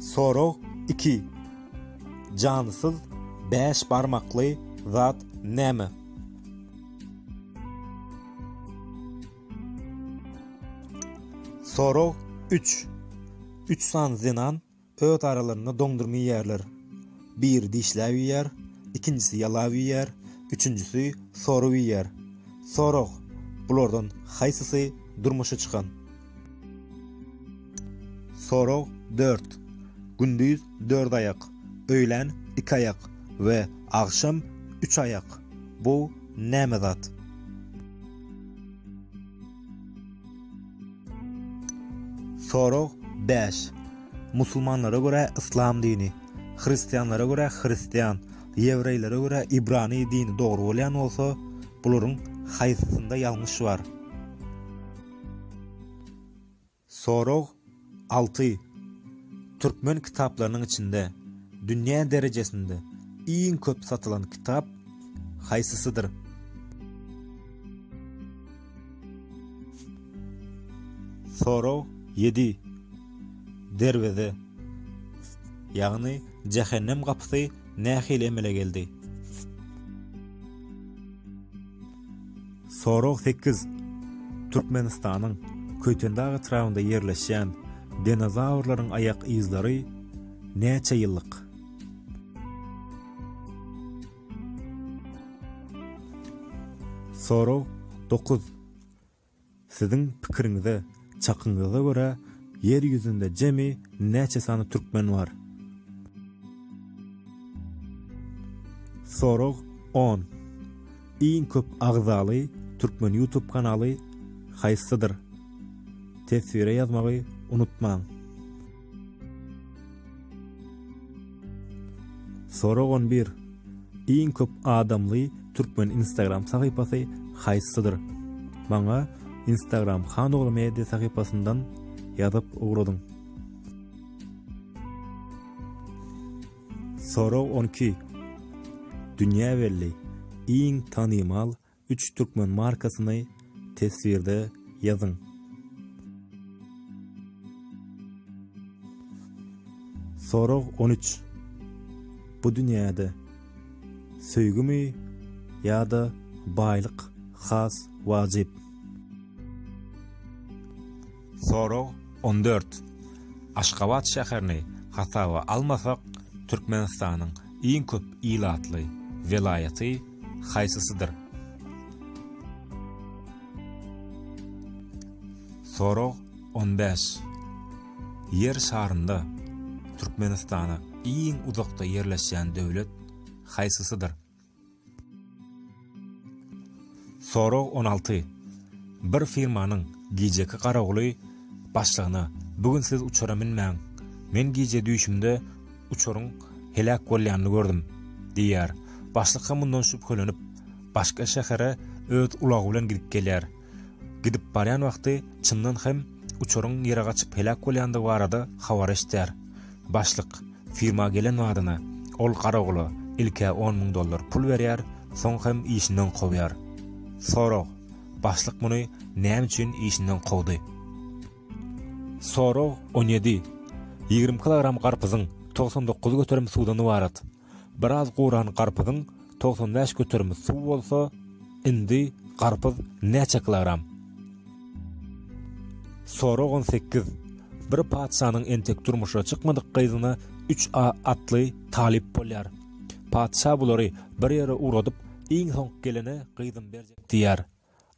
Sorag iki. Jansyz bäş barmakly zat näme? Sorag üç. Üç sany zenan Öz aralarynda doňdurma iýýärler. Biri dişläp iýýär, ikinjisi ýalap iýýär, üçünjisi sorap iýýär. Sorag, Bulardan haýsysy durmuşa çykan? Sorag dört. Gündiz dört aýak, öýlän iki aýak we agşam üç aýak. Bu näme zat? Sorag bäş. Musulmanlara görä yslam dini, hristianlara görä hristian, ýewreýlere görä ibrany dini dogry bolýan bolsa, bularyň haýsysynda ýalňyş bar? Sorag alty, Türkmen kitaplarynyň içinde dünýä derejesinde iň köp satylan kitap haýsysydyr? Sorag ýedi, Derweze, ýagny jähennem gapysy nähili emele geldi? Sorag sekiz. Türkmenistanyň Köýtendag etrabynda ýerleşýän dinozawrlaryň aýak yzlary näçe ýyllyk? Sorag dokuz. Siziň pikiriňize, çakyňyza görä, ýer ýüzünde jemi näçe sany türkmen bar? Sorag on. Iň köp agzaly türkmen ýutub kanaly haýsydyr? Teswire ýazmagy unutmaň! Sorag on bir. Iň köp adamly türkmen instagram sahypasy haýsydyr? Maňa instagram Hanogly media sahypasyndan ýazyp ugradyň. Sorag on iki. Dünýä belli iň tanymal Üç türkmen markasyny teswirde ýazyň. Sorag on üç. Bu dünýäde söýgümi ýa-da baýlyk has wajyp? Sorag on dört. Aşgabat şäherini hasaba almasak, Türkmenistanyň iň köp ilatly welaýaty haýsysydyr? Sorag on bäş. Ýer şarynda Türkmenistana iň uzakda ýerleşýän döwlet haýsysydyr? Sorag on alty. Bir firmanyň gijeki garawuly başlygyna, Bu gün siz uçara münmäň. Men gije düýşümde uçaryň heläk bolýanyny gördüm diýýär. Başlyk hem mundan şübhelenip, başga şähere öz ulagy bilen gidip gelýär. Gidip barýan wagty çyndan hem uçaryň ýere gaçyp heläk bolýandygy barada habar eşidýär. Başlyk firma gelen badyna, ol garawula ilk-ä on müň dollar pul berýär, soň hem işinden kowýar. Sorag, Başlyk muny näme üçin işinden kowdy? Sorag on ýedi. Ýigrimi kilogram garpyzyň togsan dokuz göterim suwdan ybarat. Biraz guran garpyzyň togsan bäş göterimi suw bolsa, indi garpyz näçe kilogram? Sorag on sekiz. Bir patyşanyň entek durmuşa çykmadyk gyzyna üç a atly talyp bolýar. Patyşa bulary bir ýere ugradyp, iň soňky gelene gyzym berjek diýýär.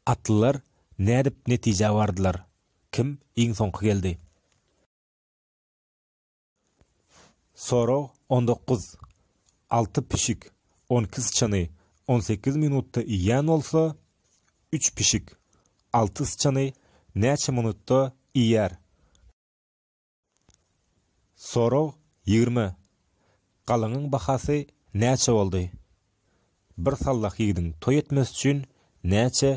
Atlylar Nädip netijä bardylar? Kim iň soňky geldi? Sorag on dokuz. Alty pişik on iki syçany on sekiz minutda iýýän bolsa, üç pişik alty syçany näçe minutda iýer? Sorag ýigrimi Galyňyň bahasy näçe boldy? Bir sallah ýigidiň toý etmesi üçin näçe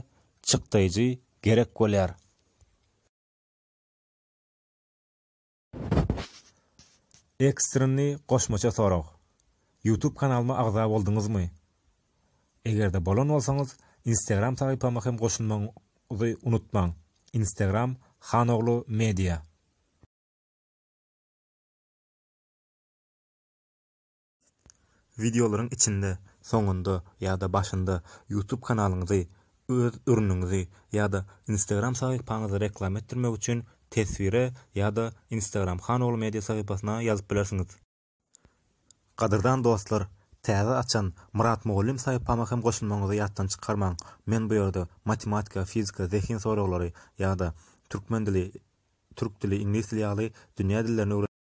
çykdaýjy gerek bolýar? Ekstreni goşmaça sorag. Youtube kanalyma agza bolduňyzmy? Eger-de bolan bolsaňyz instagram sahypama hem goşulmagyňyzy unutmaň instagram Hanoglu media. Wideolaryň içinde, soňunda ýa-da başynda YouTube kanalyňyzy, öz ürüniňizi ýa-da instagram sahypaňyzy reklama etdirmek üçin teswire ýa-da instagram Hanoglu media sahypasyna ýazyp bilersiňiz. Gadyrdan dostlar täze açan Myrat mugallym saýpama hem goşulmagyňyzy ýatdan çykarmaň men bu ýerde matematika fizika zehin soraglary ýada türkmen dili türk dili iňlis dili ýaly dünýä dillerini